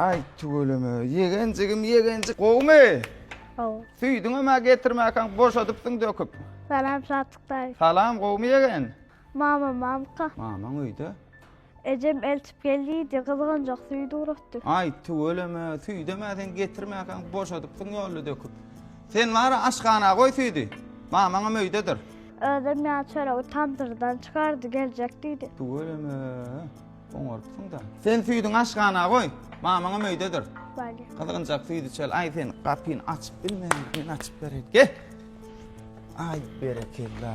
Ay tüweleme. Yegencigim yegencik. Gowmy? Gow. Süýdüň ama getirmäkäň boşadypsyň döküp. Salam Satyk daýy. Salam gowmy yegen? Mama mamka. Mamaň öýde. Ejem eltip gel diýdi, gyzganjak süýt ugratdy. Aý, tüweleme, süýdem-ä sen getirmäkäň, boşadypsyň ýolda döküp. Sen bar-a, aşhana goý süýdi, mamaňam öýdedir. Özem ýa çöregi tandyrdan çykardy, geljek diýdi. Tüweleme, oňarypsyň-da. Sen süýdüňi aşhana goý, mamaňam öýdedir. Bale. Gyzganjak süýt içeli. Aý, sen gapyny açyp bilmeýäň, men açyp bereýin. Gel! Aý, berekella!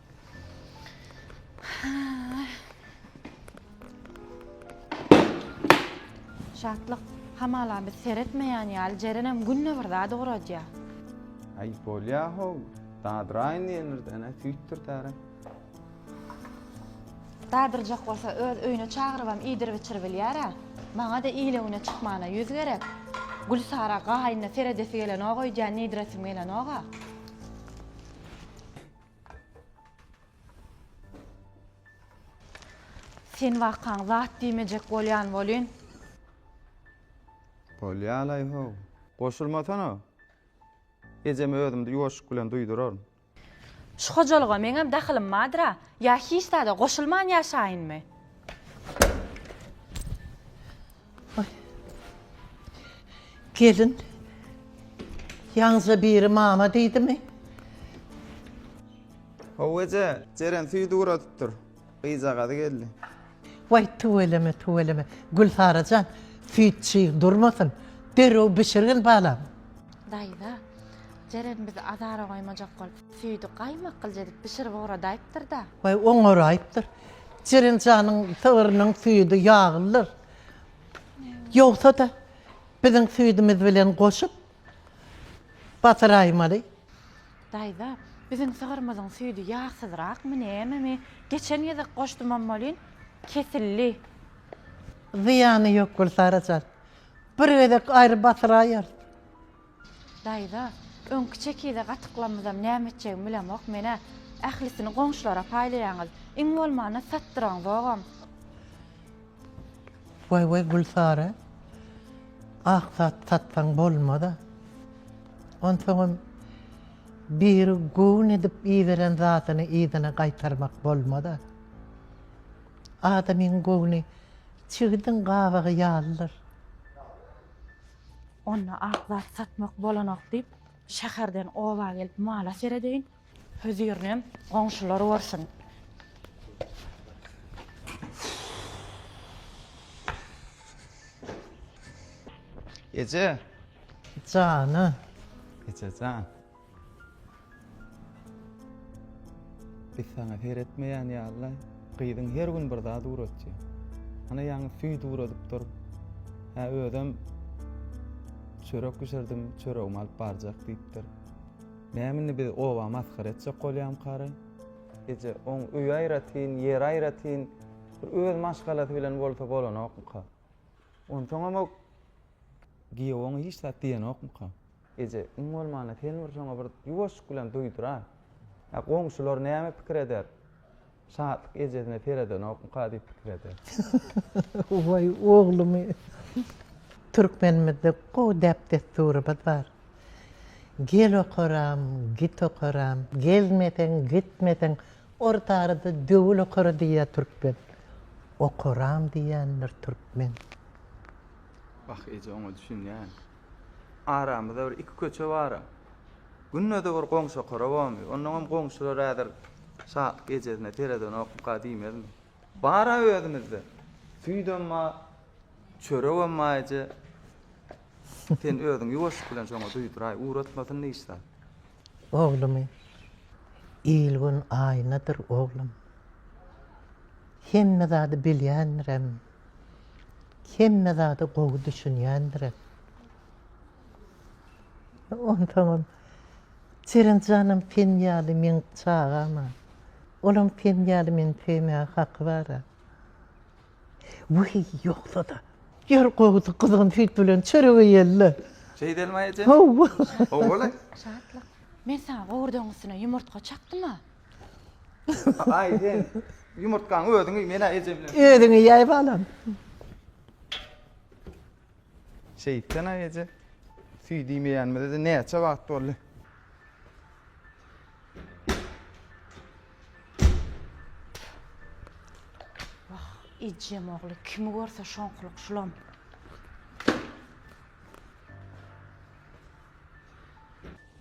Şatlyk, hamala biz seretmeýän ýaly Jerenem günde bir zat ugradýa. Aý bolýa-how, dadyraýyn diýenirden-ä süýtdir täre. Dadyrjak bolsa öz öýüne çagyrybam iýdirip-içirip bilýär-ä. Maňa-da ile-güne çykmana ýüz gerek. Gülsara gaýynyna seredesi gelenok öýdýän, iýdiresim gelenok-a. Sen wakaň zat diýmejek bolýan welin. Bolýalaý-how. Goşulmasana. Ejeme özümde ýoşuk bilen duýduraryn. Şu hojalyga meňem dahylym bardyr-a. Ýa hiç zada goşulman ýaşaýynmy? Gelin, ýaňyja biri mama diýdimi? How eje, Jeren süýdi guradyp dur. Gyzjagazy geldi. Waý, tüweleme, tüweleme. Gülsara jan, süýt çyg durmasyn. Derrew bişirgin, balam. Daýza, Jeren bizi azara goýmajak bolup. Süýdi gaýmak gylja edip bişirip oňradaýypdyr-da. Baý oňaraýypdyr. Jeren janyň sygyrynyň süýdi ýaglydyr. Ýogsa-da biziň süýdümiz bilen goşup basyraýmaly. Daýza, biziň sygyrymyzyň süýdi ýagsyzrakmy, nämemi? Geçen gezek goşdumam welin, kesildi. Zyýany ýok Gülsara jan. Bir gezek aýry basyraýarys. Daýza, öňki çekize gatyklamyzam näme etjegimi bilemok men-ä. Ählisini goňşulara paýlaýaňyz. Iň bolmanda satdyraňzogam. Waý-waý, Gülsary, ak zat satsaň bolmaz-a. Onsoňam biri göwün edip iberen zadyny yzyna gaýtarmak bolmaz-a. Adamyň göwni çigidiň gabagy ýalydyr. Onda ak zat satmak bolanok diýip, şäherden oba gelip mala seredeýin. Hözirinem goňşular görsün. Eje. Jana. Ejejan. Biz saňa seretmeýän ýaly-laý. Gyzyň her gün bir zat ugratýar. Ana ýaňy süýt ugradyp dur. Hä özem çörek bişirdim, çöregimi alyp barjak diýipdir. Näme indi biz oba masgara etjek bolýamkara? Eje, oň öýi aýratyn, ýeri aýratyn, bir öz maşgalasy bilen bolsa bolanokmyka? Onsoňam o giýew oňa hiç zat diýenokmyka? Eje, iň bolmanda sen bir şoňa bir ýuwaşlyk bilen duýdur-a. Ä, goňşular näme pikir eder? Şatlyk ejesine seredenokmyka diýip pikir eder. Waý, oglumy! Türkmenimizde gowy däp-dessurymyz bar. Gel okaram, git okaram, gelmeseň, gitmeseň, orta arada döwül okara diýýär türkmen. Okaram diýýändir türkmen. Wah, eje, oňa düşünýän. Aramyzda bir iki köçe bara. Günde-de bir goňşa korabamy, ondan hem goňşular häzir şa ejesine seredenokmyka diýmezmi. Bar-a özümizde. Süýdem bar, çöregem bar eje. Sen özüň ýuwaşlyk bilen şoňa duýduraý, ugratmasyn hiç zat. Oglumy, Il-gün aýnadyr, oglum. Hemme zady bilýändirem, Hemme zada gowy düşünýändirem. Onsoňam Jeren janam sen ýaly meň çagam-a. Olam sen ýaly meni söýmäge haky bar-a. Wiý, ýogsa-da. Ýör gowusy, gyzygym süýt bilen çörek iýeli-le. Şeýdelmi-aý eje? Hawa. Hawa-la. Şatlyk, men saňa gowurdagyň üstüne ýumurtga çakdym-a. Aý sen ýumurtgaň özüňi menä eje bilen. Özüňi ýaý balam. Şeýtsen aý eje. Süýt iýmeýänimize näçe wagt boldy? Ejem ogly kimi görse şoňkulyk şulam.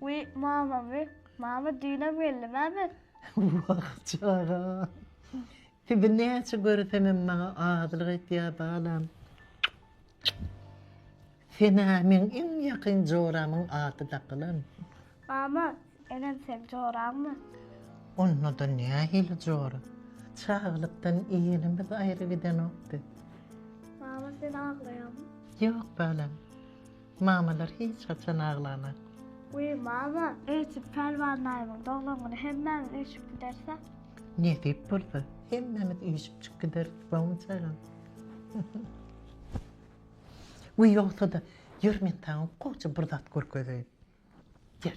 Wiý, mama, wiý, mama, düýnem geldi, näme? Wah, çaga! Sizi näçe göresemem maňa azylyk etýär, balam. Sen-ä meň iň ýakyn joramyň ady dakylan. Mama, enem seň joraňmy? Onda-da nähili jora? Çaglykdan elimiz aýry gidenokdy. Mama, sen aglaýaňmy? Ýok, balam. Mamalar hiç haçan aglamak. Wiý mama, öýtüp Pälwan daýymyň doglan güni hemmämiz üýşüp gidersek. Nesip bolsa, hemmämiz üýşüpjik gideris, bawumjagam. Wiý ýogsa-da, ýör men saňa goja bir zat görkezeýin. Ýör.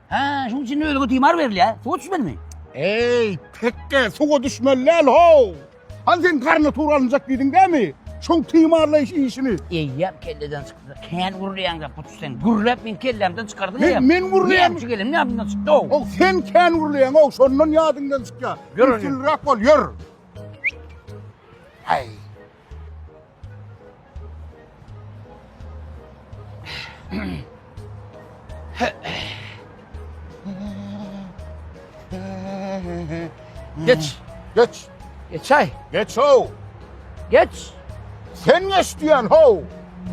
Hä, şuň üçin ölüge timar berilýär, suwa düşmelimi? Eý, tekge, suwa düşmeli däl, how! Hany sen garna tur alynjak diýdiň dämi? Şoň timarlaýyş işini. Eýýäm kelleden çykdy. Kän gürleýäň zat bu sen. Gürläp meň kellämden çykardyň eýýäm. Men gürleýän. Näme üçin gelenim ýadymdan çykdy, how! How, sen kän gürleýäň, how, şondan ýadyňdan çykýar. Ýör, ýör. Üstünlik bol, ýör. Aý, Geç. Geç. Geç ay. Geç ho. Geç. Sen geç diyen ho.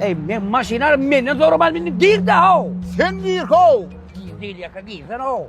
Ey men maşynar menden zorumaz bindi gir de ho. Sen gir ho. Gir değil yaka girsen ho.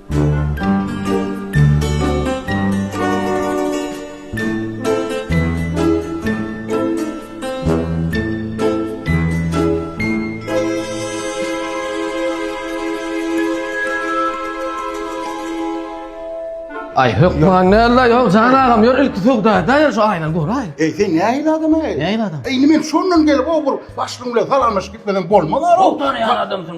Ay hökman ne la yok Can ağam yor ilk sugda da yor şu aynan gör ay. Ey sen ne ayın adam ay? Ne ayın adam? Ey men şondan gelip o bir başlığımla salanmış gitmeden bolmaz ara. Doktor ya adamsın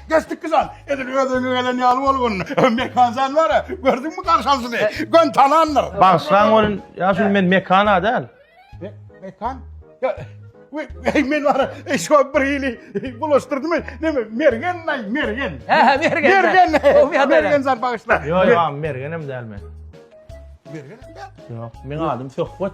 Geçdikki jan, edil özüňe gelen ýaly bolgun. Mekan jan bar-a, gördüňmi garşamsyzy? Gön tanandyr. Bagyşlaň bolun, ýa şul men Mekan-a däl. Mekan? Ýa, we, eý, men bar-a, eý, şo bir hili bulaşdyrdymy? Neme, Mergen-laý, Mergen. Hä-hä, Mergen. Mergen, Mergen jan bagyşla. Ýo, ýo, Mergenem däl men. Mergenem däl? Ýok, meň adym Söhbet.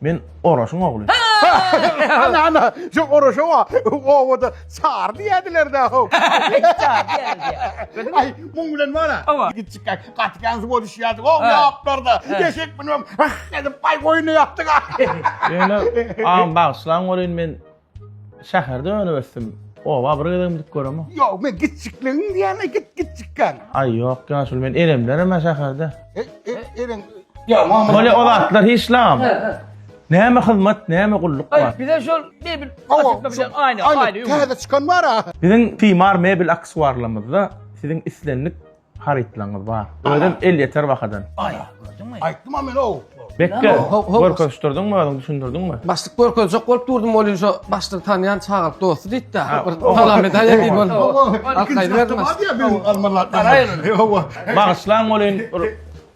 Men Oraşyň ogly. Ana, ana, şu Oraşa wa, owada çar diýädiler da, ho. Çar diýädiler. Aý, muň bilen wara. Owa. Gitjikak, gaty ganzy boluşýardyk, ho, ýaplarda. Eşek münüp, ah edip, aý, goýny ýapdyk. Ýöne, agam, bagyşlaň welin, men. Şäherde önüp ösdüm. Oba bir gezegim gidip göremok. Ýok, men gitjikligin diýäne git gitjikkan. Aý ýok, ýaşul men eremler hem şäherde. E, e, eren. Ýa, mama. Mole o zatlar hiç lam. Näme hyzmat, näme gulluk bar. Aý, bize şol mebel açykda bilen aýna, aýna. Täze çykan bar-a. Biziň Timar mebel aksuarlarymyzda siziň islendik Harytlaryňyz bar. Özem elýeter bahadan. Aýa, gördüňmi? Aýtdym-a men ow. Bekge, görkezişdirdiňmi özüň, düşündirdiňmi? Başlyk görkezjek bolup durdum, ol şu başlygy tanýan çagalyk dosty diýdi-de. Bir salam edäýe diýip ol. Hawa, ikinji gatda bar diýýär biziň almalar. Garaýyň. Hawa. Bagyşlaň welin,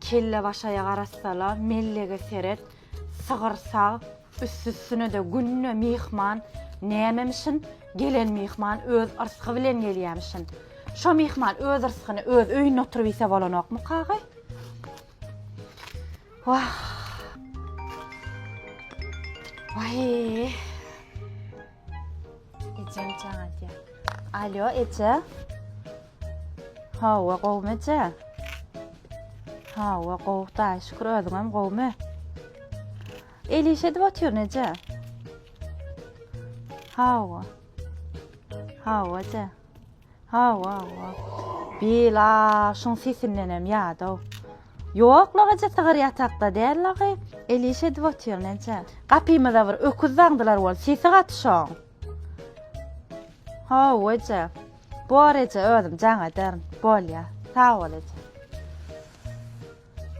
Kellebaşaýa garasala, mellege seret, sygyr sag, üstüsüne-de günde myhman, nämemişin, gelen myhman öz yrsgy bilen gelýämişin. Şo myhman öz yrsgyny öz öýünde oturyp iýse bolanokmyka-agy? Wah! Waýy! Ejem çaga diýär. Alýo, eje. Hawa, gowmy eje? Hawa, gow, da, şükür özüňem gowmy? El iş edip otyr neje? Hawa. Hawa, eje. Hawa, hawa. Bil, a, şuň sesindenem ýadaw. Ýok, lagaja sygyr ýatakda däl lagy, el iş edip otyr, näçe. Gapymyza bir öküz daňdylar bol, sesi gaty şoň. Hawa, eje. Bor, eje, özüm jaň ederin. Bolýa. Sag bol, eje.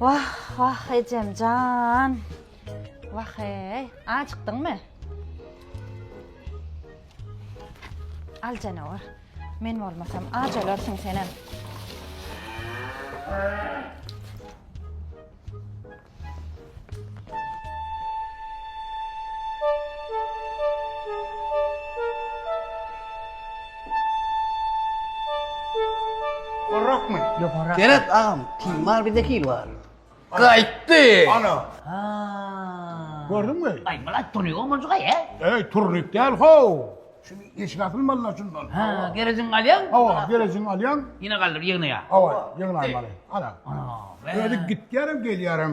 Wah wah ejem jan. Wah eý. Ajykdyňmy? Al janawar. Men bolmasam aç ölersiň senem. Gorrakmy? Ýokarrak. Berat agam, timal bizde hil bar. Gaýtdy! Ana! Haa. Gördüňmi? Aý, Myrat turnik omaljyga ýa. Eý, turnik däl how. Şu eşik asylmalyda şundan. Ha, gerejiňi galýaň. Hawa, gerejiňi alýaň. Ýene galdyr, ýygnaýa. Hawa, ýygnaýmaly. Ana. Ana. Özi gitýärem, gelýärem.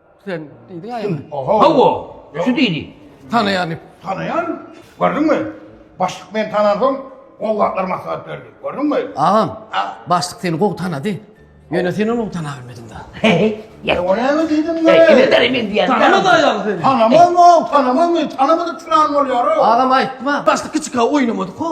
Sen diýdiň aýa. Hawa, şu diýdi. Tanaýan. Tanaýan. Gördüňmi? Başlyk meni tanansoň, gowy zatlar maslahat berdi. Gördüňmi? Agam, başlyk seni gowy tanady. Ýöne sen ony tana bilmediň-da. Ýa ol näme diýdiň? Kimdir men diýen. Tanamaz aýal seni. Tanamazmy? Tanamazmy? Tanamadyk çyran bolýar. Agam aýtma. Başlyk kiçika oýnamadyk-a.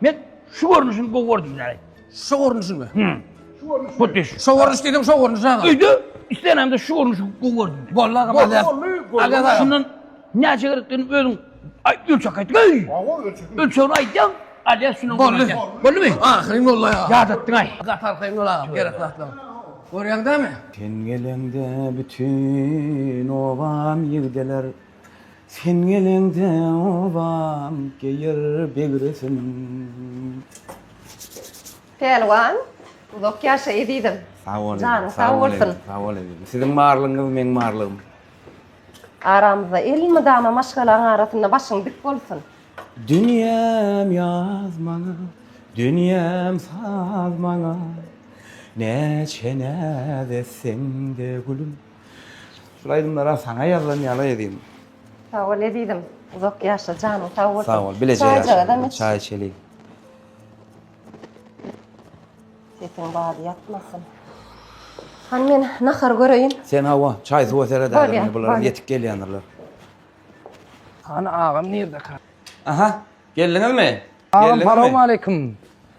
Men şu görnüşini gowy gördüm yani. Şu görnüşi mi? Hı. Şu görnüş. Bu düş. Şu görnüş dedim şu görnüş aga. Öýde islenemde şu görnüşi gowy gördüm. Bolly aga Bolly, mazar. bolly, bolly. Aga aga. Şundan näçe gerekdigini özüň ay- ölçek aýt. Öý. Awa ölçekim. Ölçegini aýtýaň. Alýa şundan Bolly. görýän. Bolly mi? Ahyryň bolly aga. Ýadatdyň aý. Gatar kyn ola gerek zatlar. Görýäňdämi? Sen geleňde bütün obam ýigdeler Sen geleňde obam geýer begresin. Pälwan uzak ýaşa ezizim. Sag bol ezizim. Janyň sag bolsun. Sag bol ezizim. Siziň barlygyňyz meň barlygym. Aramyzda elmydama maşgalaň arasynda başyň dik bolsun. Dünýäm ýaz maňa, dünýäm saz maňa, Näçe näz etseň-de gülüm. Şul aýdymlara saňa ýazlan ýaly edin. Sag bol ezizim. Uzak ýaşa janyň sag bolsun. Sag bol. Bileje ýaşa. Çaý içeliň. Sesiň bady ýatmasyn. Hany men nahar göreýin. Sen hawa, çaý suwa seret ärini. Bular ýetip gelýändirler. Hany agam nirde ka? Aha. Geldiňizmi? Agam salowmaleýkim.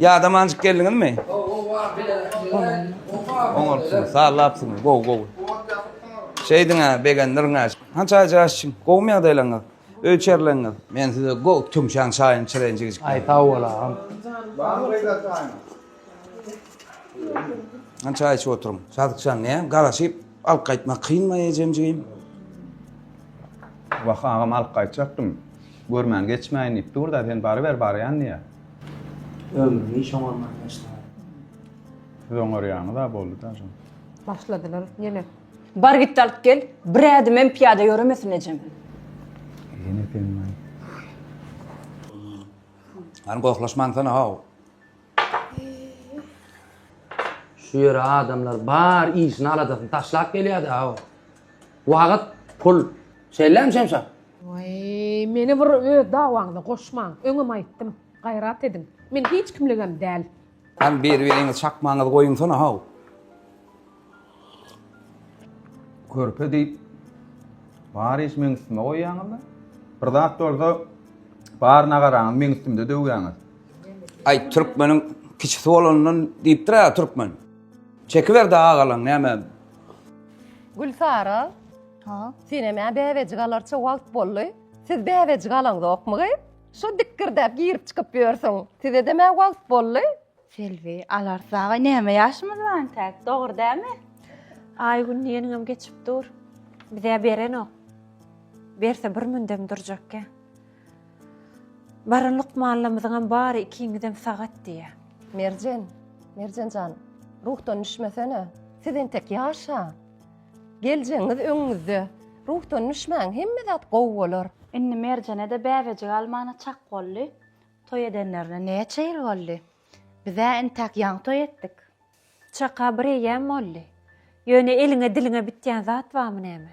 Ýada manjyk geldiňizmi? Oňarpsyňyz, sallapsyňyz, gowy, gowy. Şeýdiň-ä, begendirin-ä. Hança aýja aşçyň, gowumy ýagdaýlaryňyz, öý içerileňiz? Men size gowy tüňşäň çaýyny içireýin jigijikler. Aý, sag bol, agam. Han çaý içip oturyň. Sadykjan, ne, garaşyp alyp gaýtmak kynmy ejemjigim? Wah, agam alyp gaýtjakdym. Görmän geçmäýin diýip dur-da, sen baryber, barýan diýýä. Ömrüni hiç oňarman ýaşaýar. Siz oňarýaňyz a boldy da jan. Başladylar ýene. Bar git alyp gel, bir ädimem pyýada ýöremesin ejem. Ýene penman. Hany gohlaşmansana how. Şu ýere adamlar bar işini aladasyny taşlap gelýäda how. Wagt pul. Şeýlemi Şemşat? Waý, meni bir öz dawaňyza goşmaň. Öňem aýtdym, gaýrat ediň. Men hiç kimligem däl. Hany beri beriňiz çakmaňyzy goýuňsana how. Körpe diýip bar iş meň üstüme goýýaňyzda. Bir zat bolsa bar nagaraňyzy meň üstümde döwýäňiz. Aý türkmeniň kiçisi bolanyndan diýipdir a türkmen. Çekiber daga galaň näme. Gülsara. Ha. Senem ä bäbejik alarça wagt boldy. Siz bäbejik alaňzokmy? Şu dikgirdäp girip çykyp ýörsüň. Sizedem ä wagt boldy. Selbi, alarys dagay näme ýaşymyz bar intäk, dogry dämi? Aý gün diýeniňem geçip dur. Bizä berenok. Berse bir mündem durjakkä. Baran lukmanlamyzyňam bary ikiňizem sagat diýýä. Merjen, Merjen jan, ruhdan düşmesene. Siz entek ýaşa. Geljegiňiz öňüňizde. Ruhdan düşmäň, hemme zat gowy bolar. Indi Merjene-de bäbejik almana çak boldy. Toý edenlerine näçe ýyl boldy? Biz-ä entäk ýaňy toý etdik. Çaka bir eýýäm boldy. Ýöne eliňe-diliňe bitýän zat barmy näme?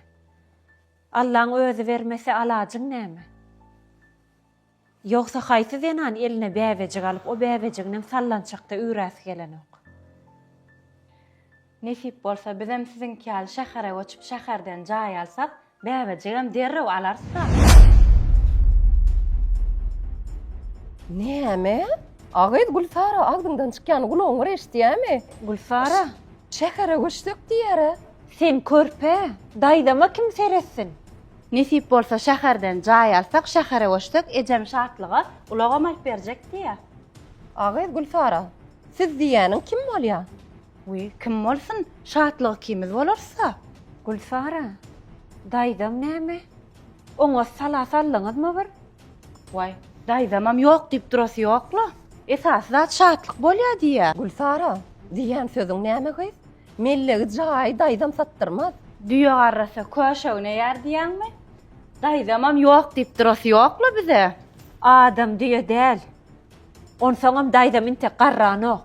Allaň özi bermese, alajyň näme? Ýogsa haýsy zenan eline bäbejik alyp o bäbejiginem sallançakda üýräsi gelenok. Nesip bolsa bizem siziňki ýaly şähere göçüp şäherden jaý alsak bäbejigem derrew alarys ha. Näme? A gyz Gülsara agzyňdan çykýany gulagyň bir eşidýämi? Gülsara. Şähere göçsek diýýär-ä. Sen körpe, daýzama kim seretsin? Nesip bolsa şäherden jaý alsak şähere göçsek ejem Şatlyga ulagam alyp berjek diýýä. A gyz Gülsara, siz diýýäniň kim bolýa? Wiý, kim bolsun, Şatlygy kimiz bolarys-a. Gülsara, daýzaň näme? Oňa sala saldyňyzmy bir? Waý, daýzamam ýok diýip durasy ýok-la. Esasy zat Şatlyk bolýa diýýä. Gülsara, diýýän sözüň näme gyz? Mellegi jaýy daýzam satdyrmaz. Düýe garrasa köşe üneýär diýýäňmi? Daýzamam ýok diýip durasy ýok-la bize. Adam düýe däl. Onsoňam daýzam intek garranok.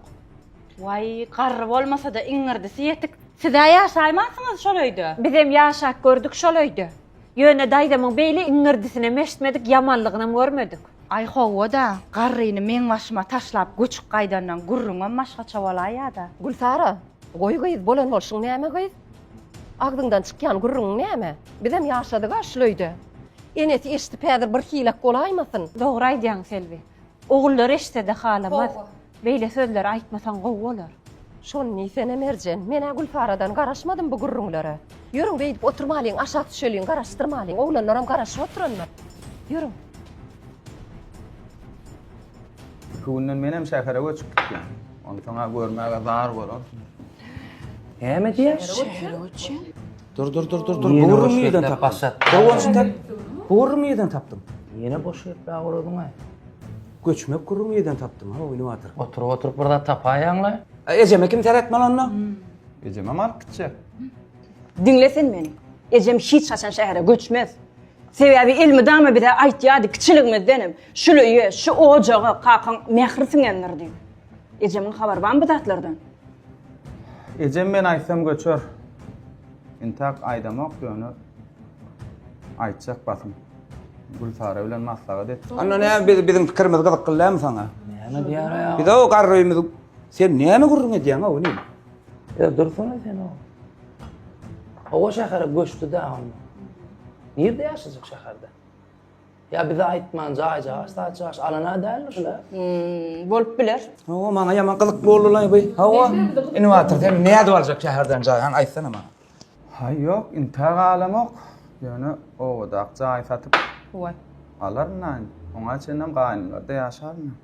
Waý, garry bolmasa-da iňňirdisi ýetik. Siz-ä ýaşaýmansyňyz şol öýde? Bizem ýaşap gördük şol öýde. Ýöne daýzamyň beýle iňňirdisine meştmedik, ýamanlygynam görmedik. Aý, hawa-da, garryny meň başyma taşlap göçüp gaýdandan gürrüňem başgaça bolaýýa-da. Gülsara, goý gyz, bolan bolşuň näme gyz? Agzyňdan çykýan gürrüňiň näme? Bizem ýaşadyg-a şul öýde. Enesi eşidip häzir bir hilek bolaýmasyn? Dogry aýdýaň, Selbi. Ogullary eşitsede halamaz. Beýle sözleri aýtmasaň gowy bolar. Şony diýsene Merjen, men-ä Gülsaradan garaşmadym bu gürrüňlere. Ýörüň beýdip oturmalyň, aşak düşeliň, garaşdyrmalyň, oglanlaram garaşyp oturandyr. Ýörüň. Iki günden menem şähere göçüp gitýän. Onsoň-a görmäge zar bolarsyňyz. Näme diýýär? Şähere göçýän? Dur dur dur dur dur. Ýene Gowurlygy boş nireden ýerden tapdyň? başlat. Gowurlygy tap. Gowurlygy nireden tapdyň? Ýene boş ýertbä guradyň-aý. Göçmek gurruny nireden tapdyň? Ha, oýny batyr. Oturyp oturyp bir zat tapaýaň-la. A ejeme kim seretmeli onda? Ejemem alyp gitjek. Diňle sen meni. Ejem hiç haçan şähere göçmez. Sebäbi elmydama bize aýtýardy kiçiligimizdenem, Şuly öýe, şu ojaga kakaň mähri siňendir diýip. Ejemiň habary barmy bu zatlardan? Ejem men aýtsam göçer. Intak aýdamok ýöne aýtjak basym. Gülsara bilen maslahat et. Anna ne biz biziň pikirimiz gyzykly dämi saňa? Näme diýär ýa? Biz o garrymy sen näme gurrun edýäň o ne? Ýa dursana sen o. Owa şähere göçdi-de onda. Nirde ýaşajak şäherde? Ýa bize aýtman jaý jaş saç jaş alana däldir şuda. Hmm, bolup biler. Hawa maňa ýaman gyzykly boldy lan bu. Hawa. Innowator sen näde edip aljak şäherden jaý? Han aýtsana maňa. Haý ýok, inte galamok. Ýöne owadak jaý satyp. Waý. Alaryn nan. Oňa çenlem gaýnymlarda ýaşaryn.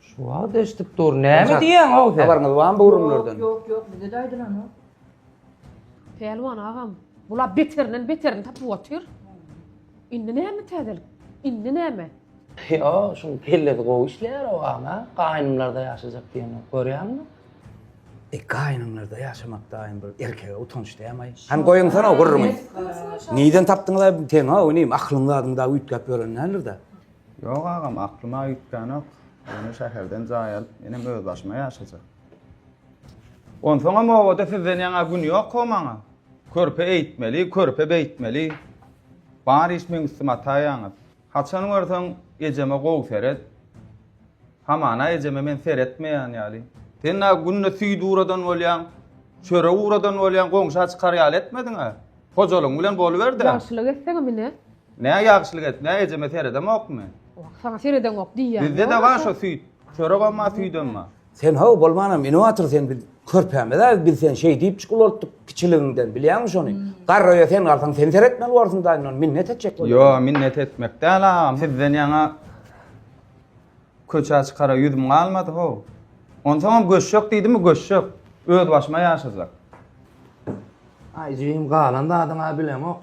Şu wagt eşdip dur. Näme diýýäň ow sen? Habaryňyz barmy bu gürrüňlerden? Ýok, ýok, bize-de aýdylanok. Pälwan agam, bular beterinden beterini tapyp otyr. Indi näme täzelik? Indi näme? Ýo, şuň kellesi gowy işleýär ow ana. Gaýnymlarda ýaşajak diýenok, görýäňmi? E, gaýnymlarda ýaşamak daýym bir erkege utanç dämaý. Hany goýuňsana ow gürrüňi. Nirden tapdyňyz-aý bu teňi-ow inim? Aklyň zadyň dagy üýtgäp ýören däldir-dä. Ýok agam, aklyma üýtgänok. Ýöne şäherden jaý alyp, menem özbaşyma ýaşajak. Onsoňam obada sizden ýaňa gün ýok-ow maňa. Körpe eýtmeli, körpe beýtmeli. Bar iş meň üstüme ataýaňyz. Haçan görseň, ejeme gowy seret. Hamana ejeme men seretmeýän ýaly. Sen-ä günde süýt ugradan bolýaň, çörek ugradan bolýaň, goňşa çykar ýaly etmediň-ä. Hojalygyň bilen boluber-dä. Ýagşylyk etseňem ine, Nä ýagşylyk edip, nä ejeme seredemokmy? Saňa seredeňok diýýän. Bizde de bar şo süýt. Çöregem bar, süýdem bar. Sen how bolmanam inowator sen biz körpämiz-ä biz sen şeý diýip çykulaltdyk kiçiligiňden bilýäňmi şony? Garraýa sen galsaň sen seretmeli borsuň daýy nol minnet etjek bolýar. Ýo minnet etmek däl agam sizden ýaňa köçä çykara ýüzüm galmady how. Onsoňam göçjek diýdimi göçjek. Öz başyma ýaşajak. Aý jigim galan zadyň-a bileňok.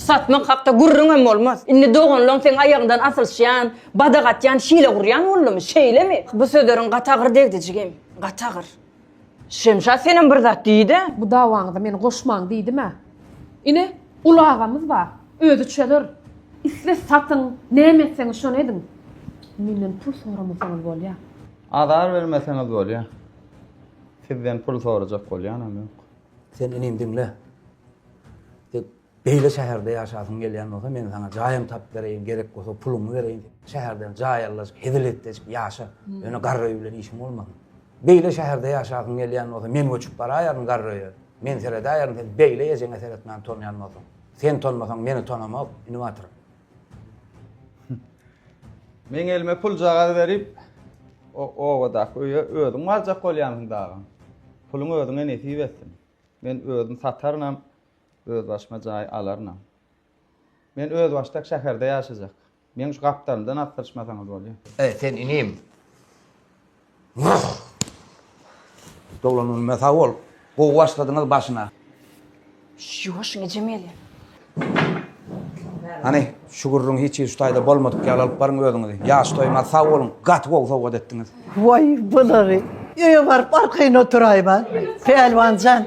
Satmak hakda gürrüňem bolmaz. Indi doganlaň seň aýagyňdan asylyşýan, badak atýan, hile gurýan boldumy? Şeýlemi? Bu sözleriň gaty agyr degdi, jigim. Gaty agyr. Şemşat senem bir zat diý-de. Bu dawaňyza meni goşmaň diýdim-ä. Ine, uly agamyz bar. Özi çözer. Isle satyň, näme etseňiz şony ediň. Menden pul soramasaňyz bolýar. Azar bermeseňiz bolýar. Sizden pul sorajak bolýanam ýok. Sen inim diňle. Beýle şäherde ýaşasyň gelýän bolsa, men saňa jaýam tapyp bereýin, gerek bolsa puluňy bereýin. Şäherden jaý alyjyk, hezil-etdejik ýaşa. Ýöne garryý bilen işiň bolmasyn. Beýle şäherde ýaşasyň gelýän bolsa, men göçüp baraýaryn garryýa. Men seredäýerin, sen beýle ejeňe seretmän tonýan bolsaň. Sen tonmasaň, meni tonamok, ini Batyr. Meň elime puljagaz berip, o obadaky öýe özüň barjak bolýansyň dagym. Puluň özüňe nesip etsin. Men özüm satarynam, Özbaşyma jaý alarynam. Men özbaşdak şäherde ýaşajak. Meň şu gapdalymdan asdyryşmasaňyz bolýa. Eý, sen inim! Wah! Doglanynyma sag bol. Gowy başladyňyz başyna. Ýuwaş ine, Jemeli! Hany, şu gürrüňi hiç hili şu taýda bolmadyk ýaly alyp baryň özüňizi. Ýaş toýuňa sag boluň! Gaty gowy sowgat etdiňiz. Waý, bulary! Öýe baryp arkaýyn oturaýma. Pälwan jan,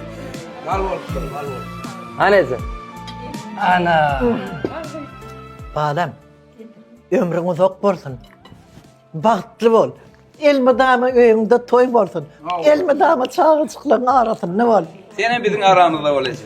Mal bolupdyr, mal bolupdyr. Hany eje? Ana! Balam, ömrüň uzak bolsun. Bagtly bol. Elmydama öýüňde toý bolsun. Elmydama çagajyklaryň arasynda bol. Sen hem biziň aramyzda bol eje.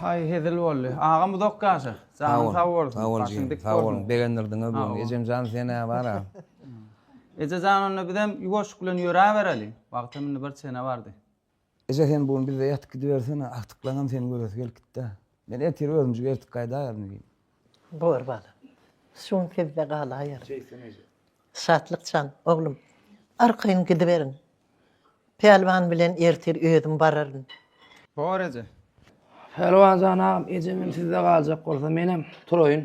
Hay hezil boldy. Agam uzak ýaşa. Janyň sag bolsun. Sag bol Başyň dik Sag bolsun. Begendirdiňe bu. Ejem jan sen ne var ha? Eje jan onda bizem ýuwaşyk bilen ýöräbereli. Wagtam indi bir çene bardy. Eje sen bu gün bizde ýatyp gidibersene, agtyklaňam seni göresi gelip gitdi-ä. Men ertir özümjik ertip gaýdaýaryn diýdim. Bor balam. Şu gün sizde galaýaryn. Şeýtsin eje. Şatlyk jan, oglum, arkaýyn gidiberiň. Pälwan bilen ertir özüm bararyn. Bor eje. Pälwan jan agam, ejemem sizde galjak bolsa, menem turaýyn.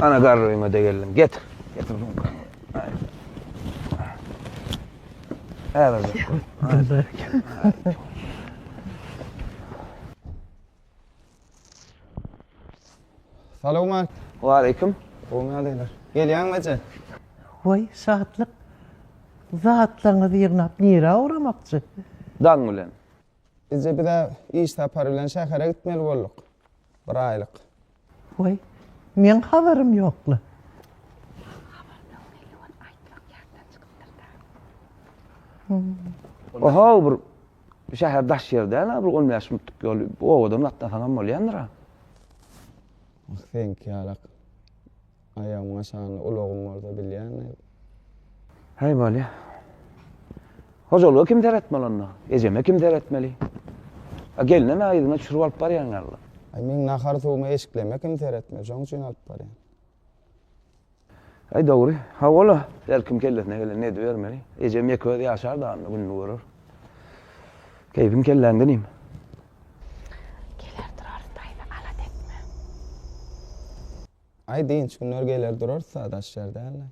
Ana garryma da geldim. Getir. Getir bunu. Hadi. Hadi. Salowmat. Waleýkim. Gowymy ýagdaýlar? Gelýäňmi eje? Waý, şatlyk. Zatlaryňyzy ýygnap nirä ugramakçy? Daň bilen. Eje biz-ä iş sapary bilen şähere gitmeli bolduk. Bir aýlyk. Waý, meň habarym ýokla. Maňa habar ber, heleý ol aýtmak ýatdan çykypdyr-da. O-how, bir şäher daş ýer däl-ä, bir on bäş minutlyk ýol, obadan gatnasaňam bolýandyr-a. Ah, seňki ýalak. Aýagymyň aşagynda ulagym bolsa bilýäňmi? Häý, bolýa. Hojalyga kim seretmeli onda? Ejeme kim seretmeli? A gelinem ä yzyna çürüp alyp barýaň ýaly. Aý, meň nahar-suwumy, eşikleme kim seretmeli? Şoň üçin alyp barýan. Aý, dogry. Hawa-la, her kim kellesine gelenini edibermeli. Ejem ýeke özi ýaşar dagynda gününi görer. Keýpiň kelläňde nim? Geler durar, daýza, alat etme. Aý dynç günler geler durarsa daş ýer dälde.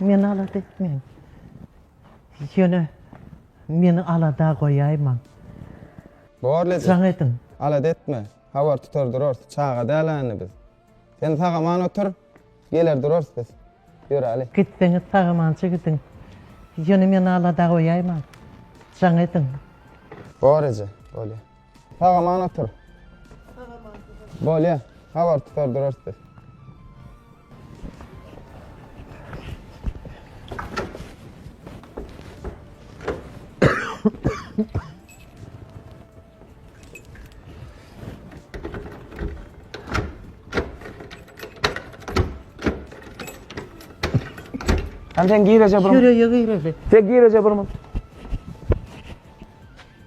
Meni alada etmeň. Ýöne meni alada goýaýmaň. Bor ledi. Jaň ediň. Alada etme. Habar tutar durarys. Çaga däl-ä indi biz. Sen sag-aman otur. Geler durarys biz. Ýöräli. Gitseňiz sag-amança gidiň. Ýöne meni alada goýaýmaň. Jaň ediň. Bor eje, bolýa. Saga man otur. Saga man otur. Bolya, havar tutar durarız biz. Sen sen gir Recep Burma. Şuraya gir Recep. Sen gir Recep Burma.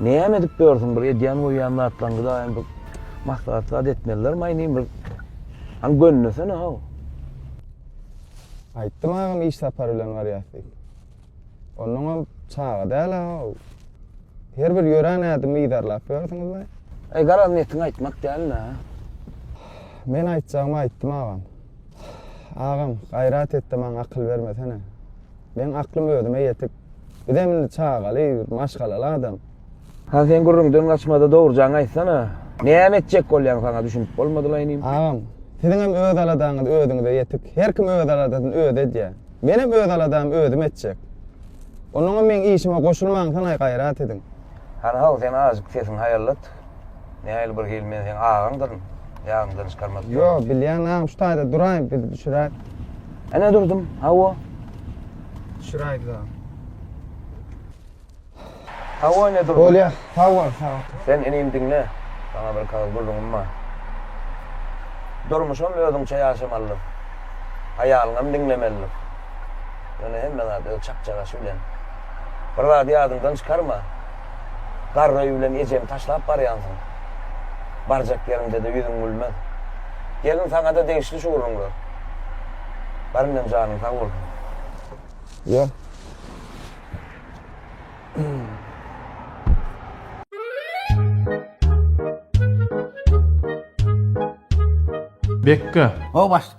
Näme edip ýörsüň bir edýän goýýan zatlaňyza hem bir maslahat zat etmeliler maýny bir Haň gönnesene haw. Aýtdym agam iş sapary bilen barýas diýip. Ondan hem çaga däl haw. Her bir ýören ädimi yzarlap ýörsiňiz we. Eý garaz netiň aýtmak däl nä. Men aýtjagymy aýtdym agam. Agam gaýrat etde maňa akyl bermesene. Meň aklym özüme ýetik. Bizem indi çagaly, maşgalaly adam. Hany sen gürrüňden gaçmada dogrujaňy aýtsana. Näme etjek bolýaň saňa düşünip bolmadylaý inim. Agam, siziňem öz aladaňyz özüňize ýetik. Her kim öz aladasyny özi edýär. Menem öz aladamy özüm etjek. Onuňam meň işime goşulmaňsanaý gaýrat ediň. Hany haw sen azjyk sesiňi haýallat. Nähili bir hil men seň agaňdyryn. Ýadyňdan çykarmadyk. Ýo, bilýän agam şu taýda duraý biz düşüräýik. Ene durdum. Hawa. Düşüräýdik agam. Hawa ene durdum. Bolýa. Sag bol, sag bol. Sen inim diňle. Saňa bir kagyz gürrüňim bar. Durmuşam özüňçe ýaşamalydyr. Aýalyňam diňlemelidir. Ýöne hemme zat öz çakjagaşy bilen. Bir zady ýadyňdan çykarma. Garry bilen ejeňi taşlap barýansyň. Barjak ýeriňde-de ýüzüň gülmez. Gelin saňa-da degişli şu gürrüňler. Bar indem janyň sag bolsun. Ýör. Bekga. Ho başt.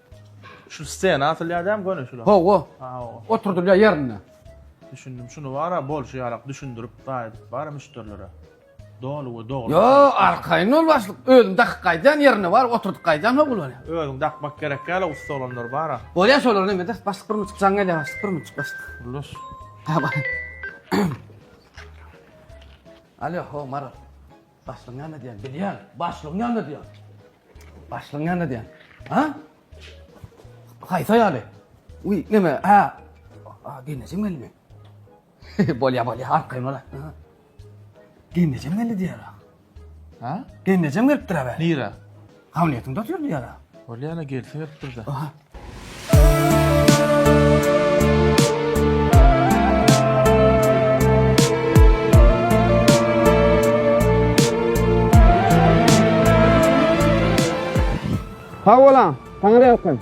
Şu stena atylýar däm göni şula. Hawa. Hawa. Oturdylýar ýerinde. Düşündim. Şunu bara bolşy ýalak düşündirip gaýdyp bara müşderilere. Doly we dogry. Yo, arkaýyn ol başlyk. Özüm dakyp gaýdýan ýerinde bar, oturdyp gaýdýan hok bolýar. Özüň dakmak gerek ýaly ussa olanlar bara. Bolýar şolar näme de, başlyk bir münçik jaň gelýär başlyk, bir münçik başlyk. Ullaş. Hawa. Alýo, ho, Maral. Başlygyň näme diýen bilýän? Başlygyň näme diýen? Başlygyň näme diýen? Ha? Haýsa ýaly? Uý, näme? Ha? A, geneje gelme. Bolýa, bolýa, arkaýyn bola. Geneje geldi diýer. Ha? Geneje gelipdir abe. Nira. Hamletiň dost ýurdy ýara. Bolýana gelsin hep birden. Aha. Sag bolan, saňa da ýalkym.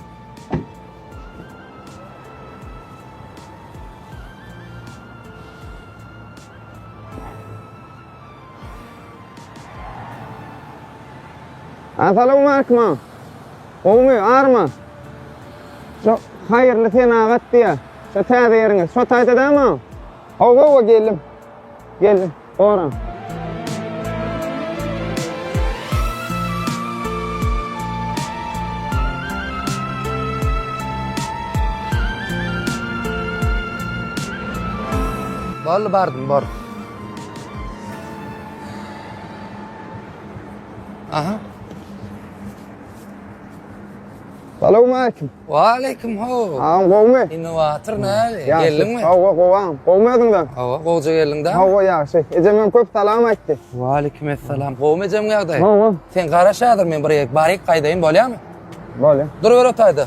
Asalom Arkma. Gowmy, arma? Şu haýyrly senagat diýä. Şu täze ýeriňiz. Şu taýda dämi? Hawa, hawa geldim. Geldim. Ora. Boldy bardym, bor. Aha. Salam aleyküm. Wa aleyküm ho. Am gowmy? Indi watyr näli? Geldiňmi? Hawa gowam. Gowmy özüňden? Hawa, gowja geldiň da. Hawa ýagşy. Ejem hem köp salam aýtdy. Wa aleyküm assalam. Gowmy ejem ýagdaý? Gowam. Sen garaş häzir men bir ýerik baryk gaýdaýyn bolýamy? Bolýa. Dur bir otaýda.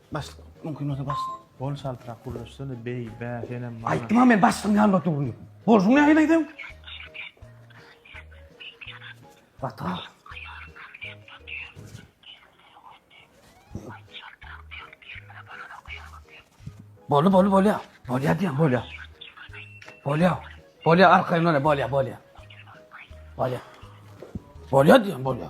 Başlyk, mümkin bolsa başlyk. Bol çaltrak gürleşsene, beý, bä, senem maňa. Aýtdym-a men başlygyň ýanynda dur diýip. Bolşuň nähili aýdaýyn? Bata. Boldy, boldy, bolýa. Bolýa diýen, bolýa. Bolýa. Bolýa, arkaýyndan, bolýa, bolýa. Bolýa. Bolýa diýen, bolýa.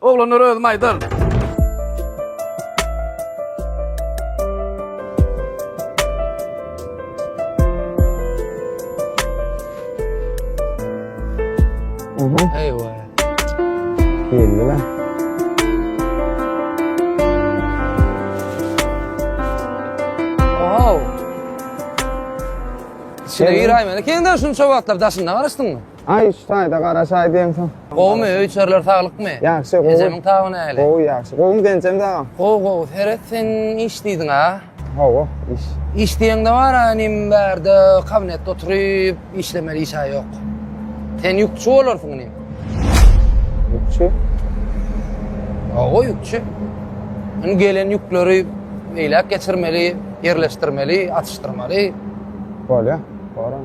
Oglanlar özüm aýdar. Eyvah. Belli lan. Wow. Şeýle ýer aýmany. Keňden şunça wagtlap daşynda garaşdyňmy? Aý, şu taýda garaşaý diýemsoň. Gowumy, öý-içerler saglykmy? Ýagşy, gowy. Ejemiň taby näle? Gowy, ýagşy. Gowymy Genjem dagam? Gowy, gowy. Seret, sen iş diýdiň-a? Hawa, iş. Iş diýeňde bar-a, inim, bärde kabinetde oturyp işlemeli iş-ä ýok. Sen ýükçi bolarsyň, inim. Ýükçi? Hawa, ýükçi. Indi gelen ýükleri beýläk geçirmeli, ýerleşdirmeli, atyşdyrmaly. Bolýar, boraň.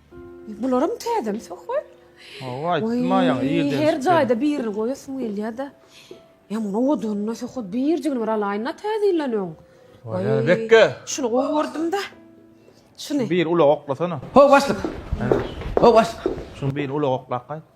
Bularam täzemi söhbet? Hawa, aýtmaýaň, ýerden Her jaýda birini goýasyň gelýär-de. Ýa muny odanynda söhbet birjigini bir alaýyn-da täze ýyldan öň. Waý, bekge! Şuny gowy gördüm-de. Şuny. Bir ulag oklasana. Ho, başlyk! Ho, başlyk! Şuny bir ulag oklap gaýt.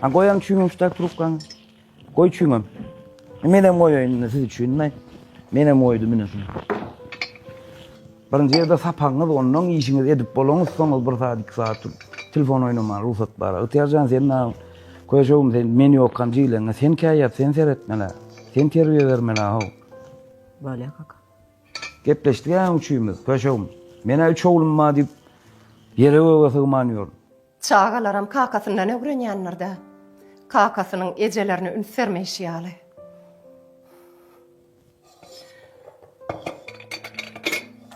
Ha goýaň çüýňüň şutak trubkaňy. Goý çüýňem. Menem goýaýyn indi siz üçin men. Menem goýdum indi şunu. Birinji ýerde sapagyňyz, ondan işiňiz edip bolaňyz, soňuz bir saat, iki saat dur. Telefon oýnamaga rugsat bar. Ygtyýarjan sen näme? Köşegim sen men ýokam jiýleňe. Sen käýýat, sen seretmeli. Sen terbiýe bermeli ha. Bolýa kaka. Gepleşdik-ä üçümiz, köşegim. Menä üç oglum bar diýip, ýere göge sygman ýörün. Çagalaram kakasyndan ögrenýändir-dä. Kakasynyň ejelerine üns bermeýşi ýaly.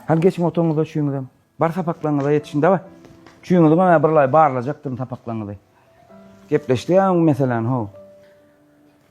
Hany geçiň oturyňyz-da üçüňizem. Bar sapaklaryňyza ýetişiň, daway. Üçüňizem bir laý barlajakdyryn sapaklaryňyzy. Gepleşdik-ä öň meseläni, how.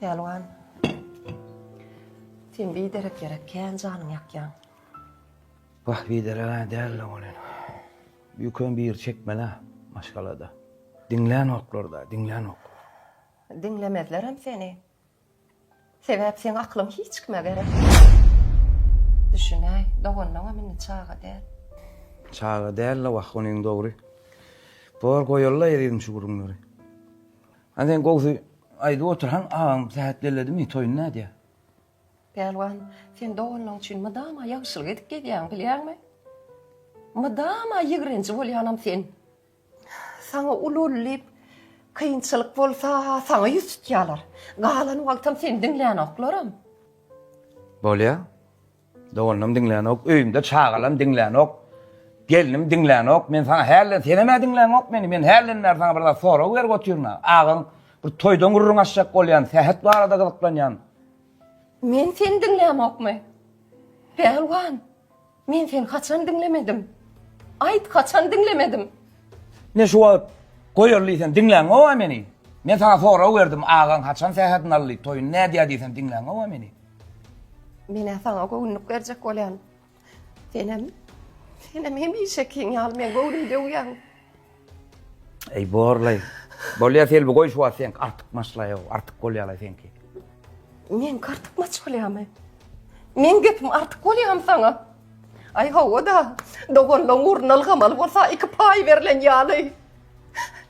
Pälwan, sen biderek ýere kän janyňy ýakýaň. Wah, bidereg-ä däl-de ol ene. Ýüküň biri çekmeli-ä maşgalada. Diňlänoklar-da, diňlänok. Diňlemezlerem seni. Sebäp seň aklyň hiç kime gerek. Düşünäý, doganyňam indi çaga däl. Çaga däl-de wah, onyň dogry. Bor, goýaly-la ezizim şu gürrüňleri. Hany sen gowsy aýdyp otur haň agaň sähet belledimi toýuny nädýä. Pälwan sen doganlaň üçin mydama ýagşylyk edip gezýäň bilýäňmi? Mydama ýigrenji bolýanam sen. Saňa uly uly diýip kynçylyk bolsa saňa ýüz tutýalar. Galan wagtam seni diňlänoklarm. Bolýa. Doganam diňlänok, öýümde çagalam diňlänok, gelnim diňlänok, men saňa häli, senem-ä diňlänok meni, men häliden bäri saňa bir zat sorag berip otyryn-a, agaň bir toýdan gürrüň açjak bolýan, sähet barada gyzyklanýan. Men seni diňlämokmy? Pälwan, men seni haçan diňlemedim? Aýt, haçan diňlemedim? Ne şu wagt goýarly diýsem diňlänok-a meni? Men saňa sorag berdim, agaň haçan sähedini aldy, toýuny nädýär diýsem diňlänok-a meni? Men-ä saňa göwünlik berjek bolýan. Senem, senem hemişekiň ýaly meň göwnümi döwýäň. Eý, borlaý. Bolýa, Selbi, goý şu wagt seňki artykmaçlaýow, artyk bolýa-laý seňki. Meňki artykmaç bolýamy? Meň gepim artyk bolýamy saňa? Aý, hawa-da, doganlaň ugruna ylgamaly bolsa iki paý berlen ýaly.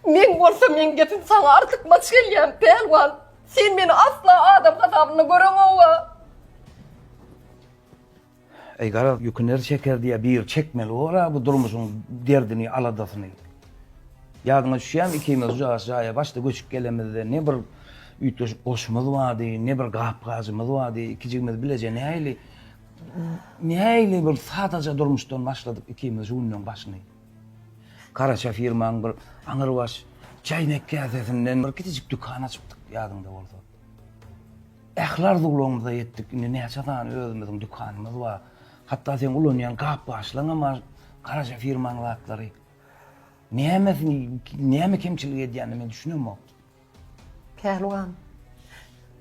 Meň bolsa meň gepim saňa artykmaç gelýämi, pälwan? Sen meni asla adam hasabynda göreňoga. Eý garaz ýüküner çeker diýýä bir çekmeli bor-a bu durmuşyň derdini aladasyny. Ýadyňa düşýämi ikimiz ucagas jaýa başda göçüp gelemizde ne bir üýtgeşik goşumyz bardy ne bir gap-gajymyz bardy ikijigimiz bileje nähili nähili bir sadaja durmuşdan başladyk ikimiz şu günleň başyny. Garaşa firmaň bir aňyrbaş çäýnek käsesinden bir kiçijik dükan açypdyk, ýadyňda bolsa. Ähli arzuwlarymyza ýetdik, indi näçe sany özümiziň dükanymyz bar. Hatda seň ulanýan gap-gaçlaryňam bar, garaşa firmaň zatlary. Nämesini, näme kemçilik edýänini men düşünemok. Pälwan,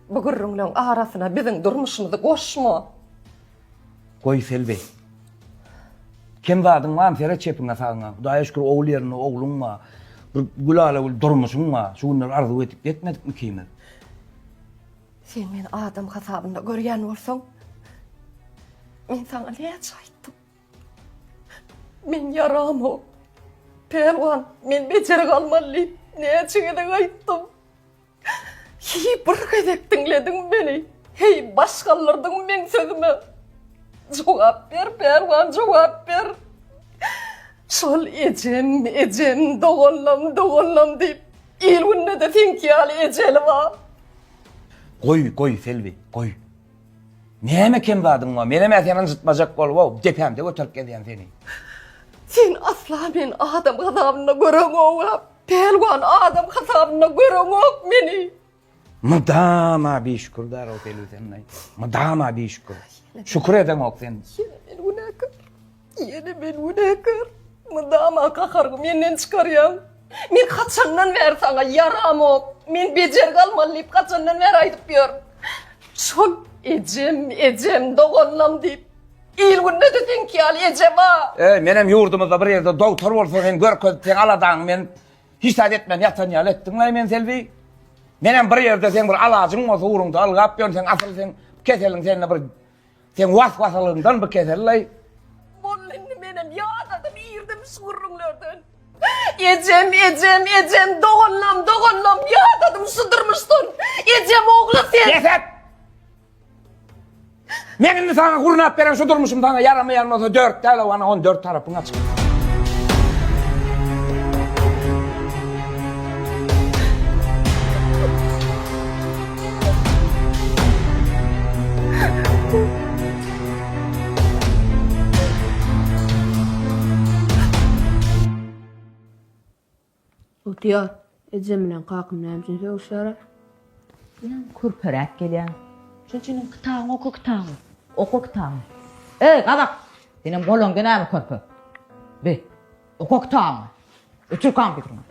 bu gürrüňleň arasyna biziň durmuşymyzy goşma! Goý, Selbi. Kem zadyň barmy, seret çepiňe-sagyňa. Hudaýa şükür, ogul ýerinde ogluň bar. Bir gülala-gül durmuşyň bar. Şu günler arzuw edip ýetmedikmi ikimiz? Sen meni adam hasabynda görýän bolsaň, men saňa näçe aýtdym? Men ýaramok, pälwan, men bejer galmaly diýip, näçe gezek aýtdym. Heý, bir gezek diňlediňmi meni? Heý, baş galdyrdyňmy meň sözüme? Jogap ber, pälwan, jogap ber! Şol ejem, ejem, doganlam, doganlam diýip, il-günde-de seňki ýaly ejeli bar. Goý, goý, Selbi, goý. Näme kem zadyň bar? Menem-ä seni ynjytmajak bolup-ow, depämde göterip gezýän seni. Sen asla men adam hasabynda göreňow-a, pälwan adam hasabynda göreňok meni. Mydama bişükürdar-ow Pelüsen-aý, mydama bişükür. Şükür edeňok sen. Ýene men günäkär. Ýene men günäkär. Mydama gaharyňy menden çykarýaň. Men haçandan bäri saňa ýaramok, men bejergi almaly diýip haçandan bäri aýdyp ýörün. Şol ejem, ejem, doganlam diýip, il-günde-de seňki ýaly eje bar. Eý, menem ýurdumyzda bir ýerde dogtor bolsa sen görkezip, seň aladaňy men hiç zat etmän ýatan ýaly etdiň-laý men Selbi. Menem bir ýerde seň bir alajyň bolsa ugruňda ylgap ýörün, seň asyl seň keseliň sende bir Sen was-wasalygyndan bu kesel laý. Boldy indi menem ýadadym irdim şu gürrüňlerden. Ejem, ejem, ejem, doganlam, doganlam, ýadadym şu durmuşdan. Ejem ogly sen. Bes et! Men indi saňa gurnap beren şu durmuşym saňa ýaramaýan bolsa dört däl-ow ana on dört tarapyň açyk. Otyar. Ejem bilen kakam näme üçin sögüşýärler? Ýa kürperäp gelýär. Şonuň üçin hem kitabyňy oka kitabyňy. Oka kitabyňy. Eý, gazak! Senem golaňda näme körpe? Bi. Oka kitabyňy. Ötür kompýuteriňi.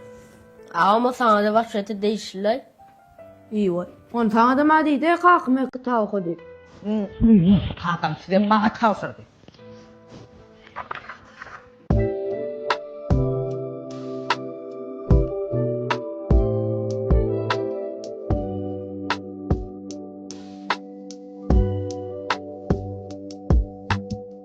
Agam o saňada waşgata degişlilaý. Ýy boý. Ony saňadam a diýdi, kakam öýk kitap oka diýip. Ýy, kakam sizem maňa tabşyrdy.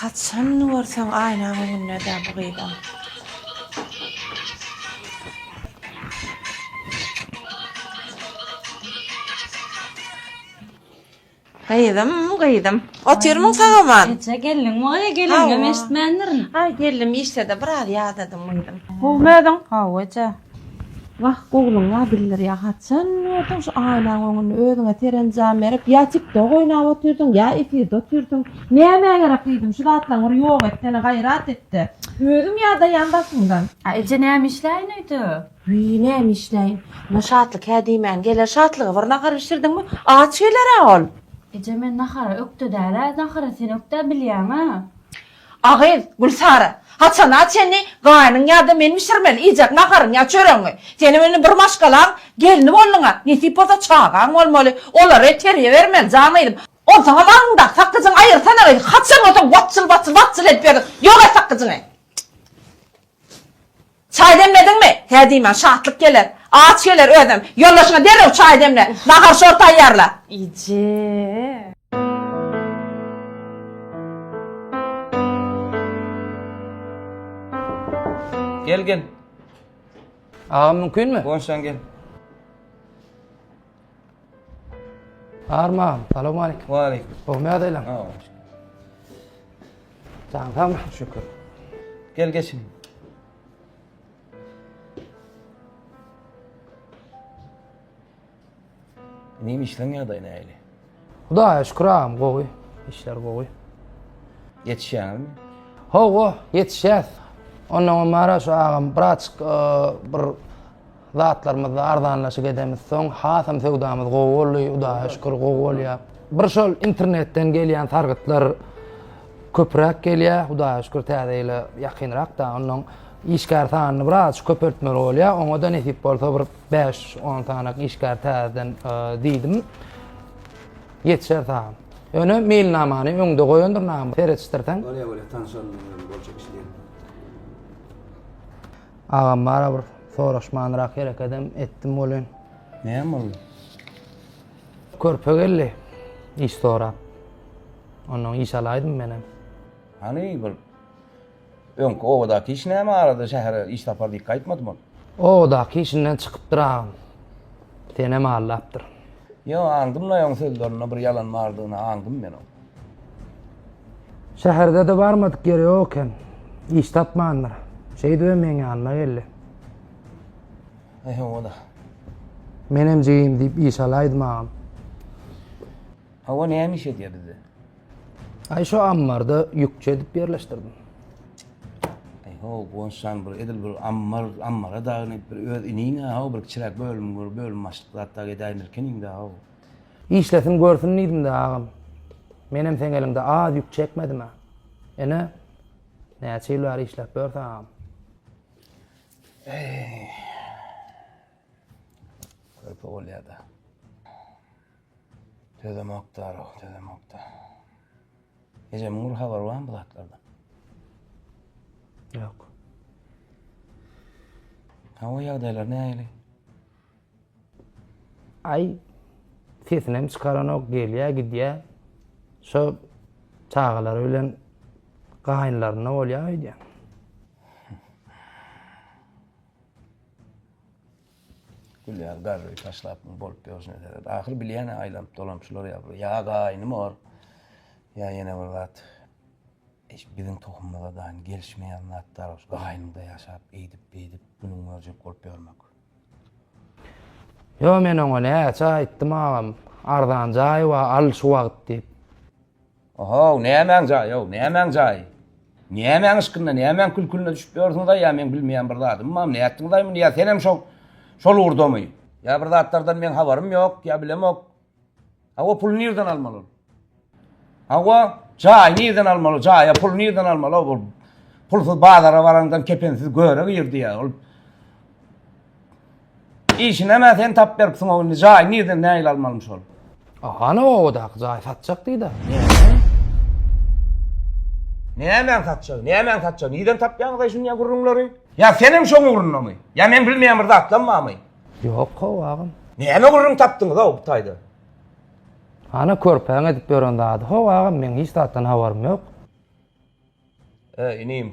Haçan görseň aýnaň öňündedä bu gyzam. Gyzym gyzym otyrmyň sagaman. Eje geldiňmi gyz gelingem eşitmändirin. Aý geldim işdede biraz ýadadym gyzym. Gowmy özüň. Gowy eje. Wah gowluň bar bildir ýa haçan gördüň şu aýnaň öňünde özüňe serenjam berip ýa tik tok oýnap otyrdyň ýa efirde otyrdyň nämä gerek gyzym şu zatlaň bir ýok etsene gaýrat etde özüň ýadaýan başyňdan. A eje näme işläýin öýde. Wiý näme işläýin. Muňa Şatlyk hä diýmän geler Şatlyga bir nahar bişirdiňmi? Aç geler-ä ol. Eje men nahara ökde dälä nahara sen ökdä bilýäňä. A gyz, Gülsara, haçana çenli gaýnyň ýa-da men bişirmeli iýjek naharyňy ýa çöregiňi? Senem indi bir maşgalaň gelni bolduň-a, nesip bolsa çagaň bolmaly, olary terbiýe bermeli, jan gyzym. Onsoňam aňyňdaky sakgyjyňy aýyrsana gyz, haçan bolsa watjyl-watjyl, watjyl edip ýörüň, ýok et sakgyjyňy! Çaý demlediňmi? Hä diýmän, Şatlyk geler. Aç geler özem. Ýoldaşyňa derrew çaý demle. Nahar-şor taýýarla. Eje! Gel, gel. Agam mümkinmi? Gonşaň gel. Arman, salam aleýkum. Wa aleýkum. Ogmy ýagdaýlaň? Jaň sagmy? Şükür. Gel geçin. Neyim işlen ýagdaýy näýli? Hudaýa şükür agam gowy işler gowy. Ýetişýäňizmi? Hawa ýetişýäs. Ondan öň Maraş agam biraçyk bir zatlarymyzda arzanlaşyk edemiz. Soň hasam söwdamyz gowy boldy. Hudaýa şükür gowy bolýar. Bir şol internetden gelýän sargytlar köpräk gelýär. Hudaýa şükür täze ýyla ýakynrak da ondan işgär sanyny biraz köpeltmeli bolýar. Oňa da nesip bolsa bir Bäş, on sanak işgär täzeden diýdim. Ýetişer saňa. Ýöne meýilnamany öňde goýandyr näme? Seretişdirseň. Bolýa, bolýa, tanşalym bilen boljak iş diýdim. Agam barabir soraşmanrak hereket hem etdim welin. Näme boldy? Körpe geldi. Iş sorap. Ondan iş alaýdym men hem. Hany bir Öňki obadaky iş näme arada şähere iş sapar diýip gaýtmadym ol. Obadaky işinden çykypdyr agam. Senem aldapdyr. Ýo, aňdym-la oň sözlerinde bir ýalan bardygyny aňdym men oň. Şäherde-de barmadyk ýeri ýok eken. Iş tapmandyr. Şeýdibem meň ýanyma geldi. Eý hawa-da. Menem jigim diýip iş alaýdym agam. Hawa näme iş edýär bizde. Ay şu ammarda yükçe edip yerleştirdim. Ay ho gonşan bir edil bir ammar ammara dagyn bir öz inine ha bir çirek bölüm bir bölüm başlyk zat da edayim ilkin indi ha. İşlesin görsün dedim de ağam. Menem sen elinde az yük çekmedim ha. Ene näçe ýyl bäri işläp ýörsen agam? Körpe bolýar da. Tözem okdarow, tözem okda. Ejemiň bir habary barmy bu zatlardan? Ýok. Hawa ýagdaýlar nähili? Aý sesini hem çykaranok, gelýä, gidýä. Şo çagalary bilen gaýynlarynda bolýa öýdýä. Gülýär garry taşlap muny bolup ýörşüne seret. Ahyry bilýän-ä aýlanyp-dolanyp şular ýa bir ýa gaýnym bor, ýa ýene bir zat. Eş biziň tohumymyza daýyn gelişmeýän zat bar ol gaýnymda ýaşap eýdip-beýdip günüň görjek bolup ýörmek. Ýo men oňa näçe aýtdym agam arzan jaý bar al şu wagt diýip. Ohow, nämäň jaýy-ow, nämäň jaýy? Nämäň yşkynda, nämäň kül-külüne düşüp ýörsiňiz-aý, ýa meň bilmeýän bir zadymam, nätdiňiz-aý muny, ýa senem şo, şol ugurdamy? Ýa bir zatlardan meň habarym ýok, ýa bilemok. Hawa, puly nirden almaly ol? Hawa, jaýy nirden almaly, jaýa puly nirden almaly-ow, ol pulsyz bazara baraňdan kepensiz göre girdi ýa, ol. Işinemä sen tap beripsiň o indi jaýy nirden nägile almalymy şol. Hany obadaky jaý satjak diýda. Nämäň satjagy? Nämäň satjagy? Nirden tapýaňyz aý şunýa gürrüňleri? Ýa sen hem şoň ugrundamy? Ýa men bilmeýän bir zatlam barmy? Ýok how agam. Näme gürrüň tapdyňyz how bu taýda? Hany körpäň edip ýören zady how agam meň hiç zatdan habarym ýok. Ä inim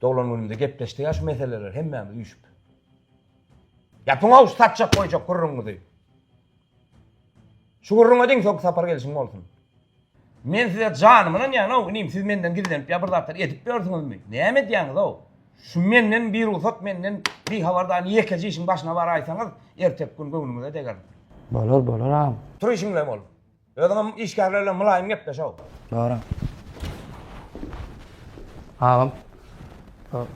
Doglan günümde gepleşdik ya şu meseleleri hemmämiz üýşüp. Ýapyňow şu satjak goýjak gürrüňiňizi. Şu gürrüňe deň soňky sapar gelişiň bolsun. Men size janymy ynanýan-ow, inim siz menden gizlenip ýa bir zatlar edip ýörsüňizmi? Näme edýäňiz-ow? Şu menden bir rugsat menden bir habardan ýekeje işiň başyna baraýsaňyz, erteki gün göwnüňize degerin. Bolar, bolar agam. Tur işiňle bol. Özüňem işgärler bilen mylaýym gepleş how. Dogry. Agam. Şu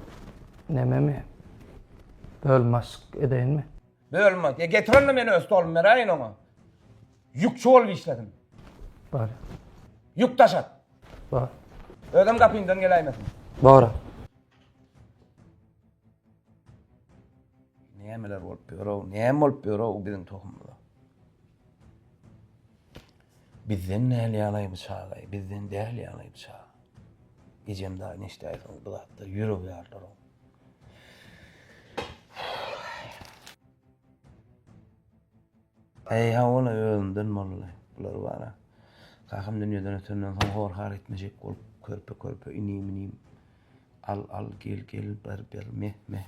nememi bölüm başlyk edeýinmi? Bölüm baş. E getir onda men öz stolumy beräýin oňa. Ýükçi bolup işlesin. Bar. Ýük daşat. Bar. Özem gapyňdan geläýmesin. Bar. Nämeler bolup ýör-ow, näme bolup ýör-ow biziň tohumda. Bizden däl ýalaý bu çagaý, bizden däl ýalaý bu çag. Ejem dagy neşdäýsin bu zatda ýürek ýarlaryň. Eý hawala özünden bolly. Bular bara. Kakam dünýeden ötenden soň hor-har etmejek bolup körpe-körpe inim-inim. Al-al gel-gel ber-ber meh-meh.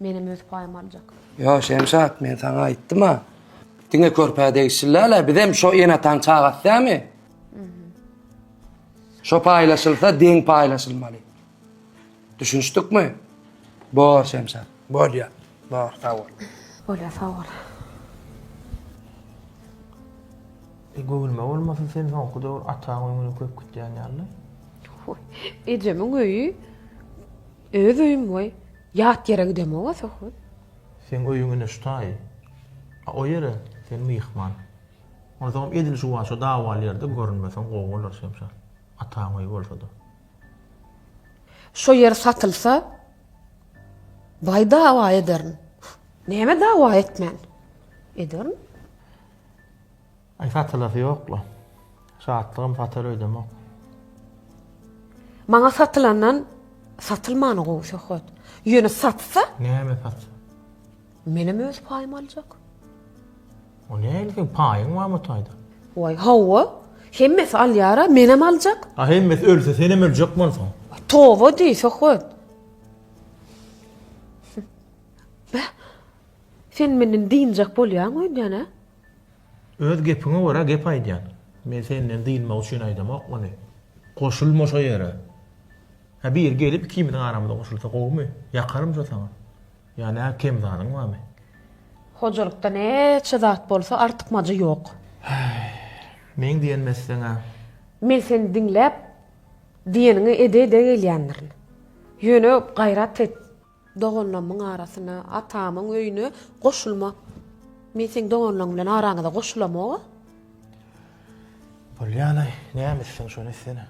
Menem öz paýymy aljak. Ýo, Şemşat, men saňa aýtdym-a. Diňe körpä degişliläle, bizem şo enataň çagasy dämi? Şo paýlaşylsa, deň paýlaşylmaly. Düşünişdikmi? Bor, Şemşat, bolýa. Bor, sag bol. Bolýa, sag bol. E, göwünme bolmasa, sen soňky döwür ataň öýüňe köp gitýän ýaly. Hoi, ejemiň öýi Öz öýüm goý, ýat ýere gidemog-a Sohbet. Seň öýüň ine şu taýy. A o ýere sen myhman. Onsoňam edil juwaça dawaly ýerde görünmeseň gowy bolar Şemşat. Ataň öýi bolsa-da. Şo ýer satylsa, baý dawa ederin. Näme dawa etmen? Ederin. Aý satylasy ýokla. Şatlygym satar öýdemok. Maňa satylandan satylmany gowy söhbet. Ýöne satsa? Näme sat? Menem öz paýymy aljak. O näme sen paýyň bar mı taýda? Oý, hawa. Hemmesi alýara, menem aljak. A hemmesi ölse senem öljek bolsaň. Toba diý söhbet. Beh. Sen menden dynjak bolýaň öýdýän-ä? Öz gepiňe görä gep aýdýan. Men senden dynmak üçin aýdamok muny. Goşulma şo ýere. Hä biri gelip ikimiziň aramyza goşulsa gowumy? Ýakarmyşa saňa. Ýa nä kem zadyň barmy? Hojalykda näçe zat bolsa artykmajy ýok. Häý. Meň diýenimi etseň-ä. Men seni diňläp, diýeniňi ede-ede gelýändirin. Ýöne gaýrat et. Doganlamyň arasyna, atamyň öýüne goşulma. Men seň doganlaň bilen araňyza goşulamog-a. Bolýanaý, näme etseň şony etsene.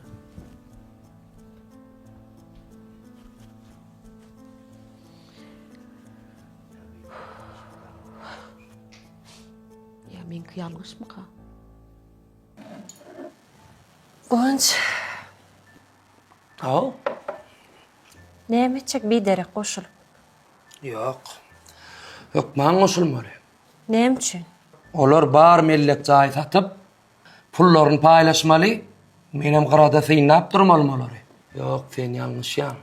Ýa meňki ýalňyşmyka? Guwanç. Haw. Näme etjek biderek goşulyp? Ýok. Hökman goşulmaly. Näme üçin? Olar bar mellek jaý satyp, pullaryny paýlaşmaly, menem gyrada synlap durmalym olary. Ýok, sen ýalňyşýaň.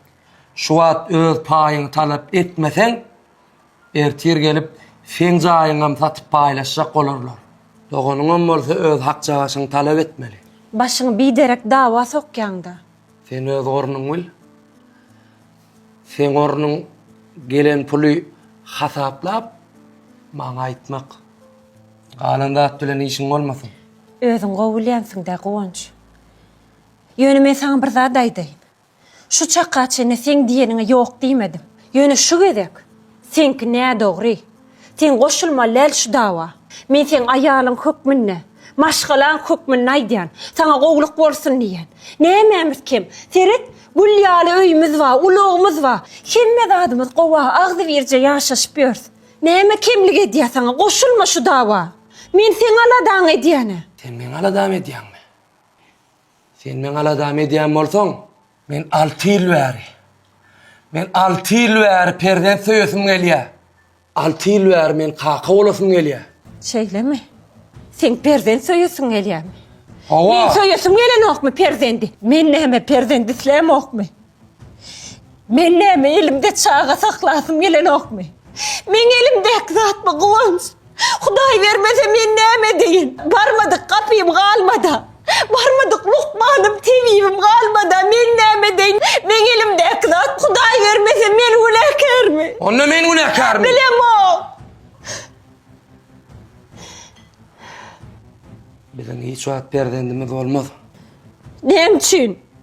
Şu wagt öz paýyňy talap etmeseň, Ertir gelip, seň jaýyňam satyp paýlaşjak bolarlar. Doganyňam bolsa öz hakjagaşyňy talap etmeli. Başyňy biderek dawa sokýaň-da. Sen öz ornuňy bil. Seň ornuň gelen puly hasaplap, maňa aýtmak. Galan zat bilen işiň bolmasyn. Özüň gowy bilýänsiň-dä, Guwanç. Ýöne men saňa bir zat aýdaýyn. Şu çaka çenli seň diýeniňe ýok diýmedim. Ýöne şu gezek seňki nädogry. Sen goşulmaly däl şu dawa. Men seň aýalyň hökmünde, maşgalaň hökmünde aýdýan. Saňa gowluk bolsun diýýän. Nämämiz kem? Seret, gül ýaly öýümiz bar, ulagymyz bar. Hemme zadymyz gowa, agzybirje ýaşaşyp ýörs. Näme kemlik edýär saňa? Goşulma şu dawa. Men seň aladaňy edýän-ä. Sen meň aladamy edýäňmi? Sen meň aladamy edýän bolsaň, men alty ýyl bäri, men alty ýyl bäri perzent söýesim gelýär. Alty ýyl bäri men kaka bolasym gelýär. Şeýlemi? Seň perzent söýesiň gelýärmi? Hawa. Men söýesim gelenokmy perzendi? Men näme perzent islämokmy? Men näme elimde çaga saklasym gelenokmy? Meň elimdäki zatmy Guwanç? Hudaý bermese men näme edeýin? Barmadyk gapym galmada. Barmadyk lukmanym, tebibim galmada men näme edeýin? Meň elimdäki zat Hudaý bermese men günäkärmi? Onda men günäkärmi? Bilemok. Biziň hiç wagt perzendimiz bolmaz. Näme üçin?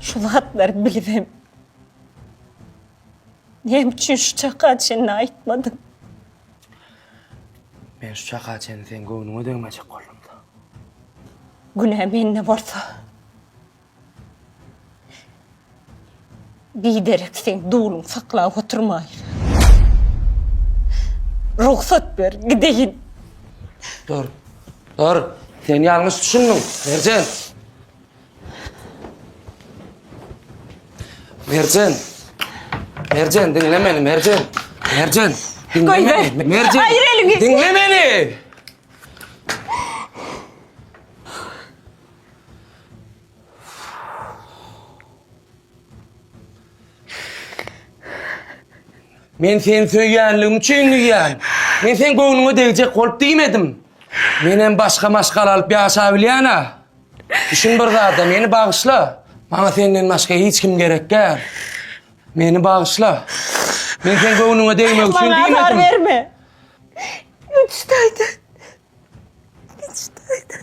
Şu zatlary bilibem, näme üçin şu çaka çenli aýtmadym? Men şu çaka çenli seň göwnüňe degmejek boldum-da. Günä mende bolsa. Biderek seň duluň saklap oturmaýyn. Rugsat ber, gideýin. Dur. Dur. Sen ýalňyş düşündiň, Merjen. Merjen. Merjen, diňle meni, Merjen. Merjen, diňle Goý ber. meni. Merjen. Aýyr eliňi. Diňle meni. Men seni söýýänligim üçin diýýän. Men sen göwnüňe degjek bolup diýmedim. Men hem başga maşgala alyp ýaşap bilýän-ä. Düşün bir zada, meni bagyşla. Maňa senden başga hiç kim gerek däl. Meni bagyşla. Men sen göwnüňe degmek üçin Maňa azar diýmedim. berme. Üç taýdan. Üç taýdan.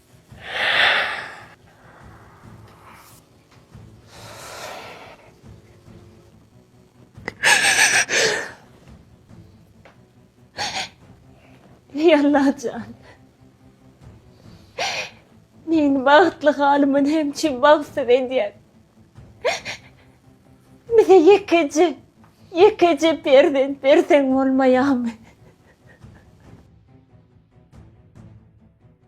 Ey Allajan. Meni bagtly halymyn hem çim bagtsyz edýän. Bize ýekeje, ýekeje perzent berseň bolmaýamy?